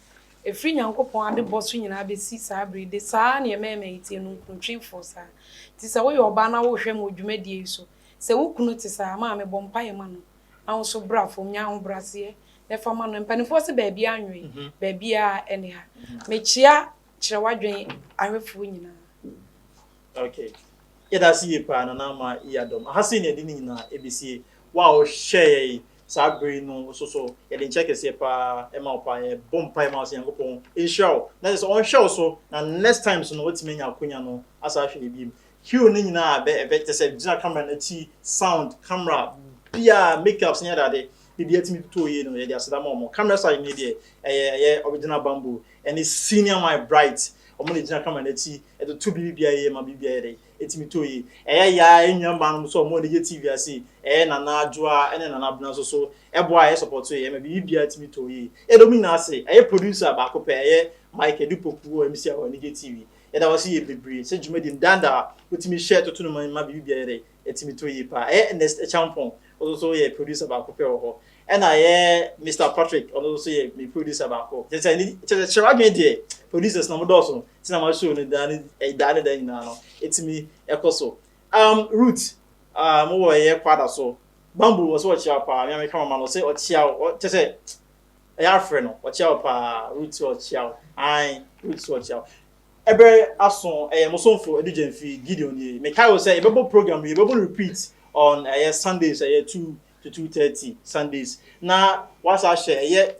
Ɛfiri Nyankopɔn adebɔ so nyinaa bɛsi saa berɛ yi, de saa ara na ɛma ɛma yɛtie no nkrontwenfoɔ saa. Nti sɛ woyɛ ɔbaa na wohwɛ me wɔ dwumadie yi so, sɛ wo kunu te saa a, ma mebɔ mpaeɛ ma no, na wo nso bra fam, nya ahobrɛaseɛ, na ɛfa ma no. Mpanimfoɔ se baabiara nnwoe, baabiara ɛne ha. Mekyea Kyerɛwadwen ahwɛfoɔ nyinaa. Ok. Yɛda ase yie paa, Nana Ama Yadom. Aha sei na yɛde ne nyinaa ɛbɛsie. Wo a wohwɛeɛ yi, Saa bere yi no nso so, yɛde nkyɛ kɛseɛ pa ara ma wo pa ara. Yɛbɔ mpaeɛ ma wo sɛ Nyankopɔn nhyira wo na kyerɛ sɛ ɔnhwɛ wo so na next time so no woatumi anya akwanya no asan ahwɛ yɛn bio. Hue no nyinaa a ɛbɛ ɛbɛ kyerɛ sɛ gyina camera no akyi, sound, camera, biara, makeups ne adeade biribiara tumi totoo yie no yɛde aseda ma wɔn. Camera side no deɛ ɛyɛ ɛyɛ original bamboo ɛne senior my bright wɔn na ɛgyina camera no akyi ɛtoto biribiara yie ma biribiara yɛ dɛ. Etumi tɔ yi. Ɛyɛ ya a, yɛn nuambaanom nso a wɔn ani gye TV ase yi, ɛyɛ Nana Adwoa ne Nana Abena nso so, ɛboa a yɛsɔpɔto yɛn ma biribiara tumi tɔ yie. Yɛda wɔn nyinaa ase. Ɛyɛ producer baako pɛ, ɛyɛ Mike Adu Poku wɔ MC Ahoa Anigye TV. Yɛda wo ase yie bebree sɛ dwumadi no daa daa wotumi hyɛ toto no ma biribiara yɛ dɛn? Ɛtumi tɔ yie paa. Ɛyɛ Ernest Akyampong, wo nso so woyɛ producer baako pɛ wɔ hɔ. Ɛna ɛyɛ Mister Patrick, ɔno nso yɛ me producer baako. Kyerɛ sɛ ne kyerɛ sɛ kyerɛw adwene deɛ producers na wɔdɔɔso nti na ma show no daa ne eh, daa ne daa nyinaa no ɛtumi ɛkɔ so. Um, Ruth, um, wowɔ ɛyɛ kwada so. Bamboo wɔ sɛ ɔkyea paa, me a meka mama no sɛ ɔkyea wo, kyerɛ sɛ ɛyɛ afrɛ no, ɔkyea wo paa, Ruth sɛ ɔkyea wo, ae, Ruth sɛ ɔkyea wo. Ɛbɛ aso ɛyɛ mo somfo Edu Gyamfi Gideon nie. Mekae wo sɛ yɛbɛbɔ program yi, yɛbɛbɔ no repeat on ɛyɛ Sundays, ɛyɛ two to two thirty Sundays na wasa ahyɛ ɛyɛ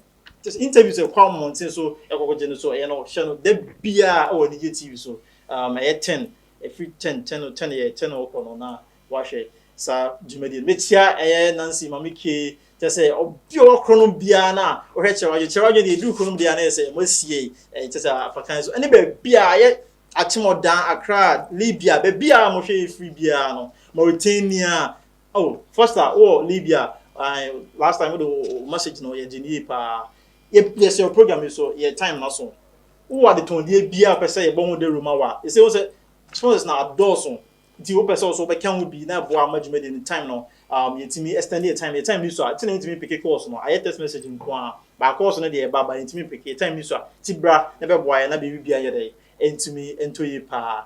just interviews ɛkɔ e mmɔnten so ɛkɔkɔ e gye no so ɛyɛ e no hyɛ no da biara ɛwɔ anigye tv so um, ɛyɛ ten ɛfiri e ten ten no ten yɛ ten no ɔkɔ no na wahwɛ saa dwumadie no mekyia ɛyɛ nancy maame kee kyɛ sɛ ɔbi ɔwɔ korɔ no biara no a ɔhwɛ kyerɛ wadwe kyerɛ wadwe deɛ ɛduru korɔ no biara no yɛ sɛ ɛmɔ asie ɛyɛ kyɛ sɛ afakan so ɛne baabi a ɛyɛ akyemɔdan akra libya baabi a mohwɛ ɛfiri biara no mauritania Oh Foster wowɔ Libya I last time wode wo message no yɛ gyeni yie paa yɛsɛ yɛ program yi so yɛ time na so wowɔ adetɔndeɛ biara pɛ sɛ yɛbɔ ho dawuro ma wa ɛsɛ wo sɛ sponsors na adɔɔso nti wopɛ sɛ wo so wobɛka ho bi na ɛboa ma dwumadi no time no um, yɛtumi extend yɛ time yɛ time ni so a ti na yɛntumi mpeke course no ayɛ test message nko a baa course no deɛ ɛba ba yɛntumi mpeke yɛ time ni so a ti bra na bɛboa yɛ na biribi bia yɛ dɛ ɛntumi ɛntɔ yie paa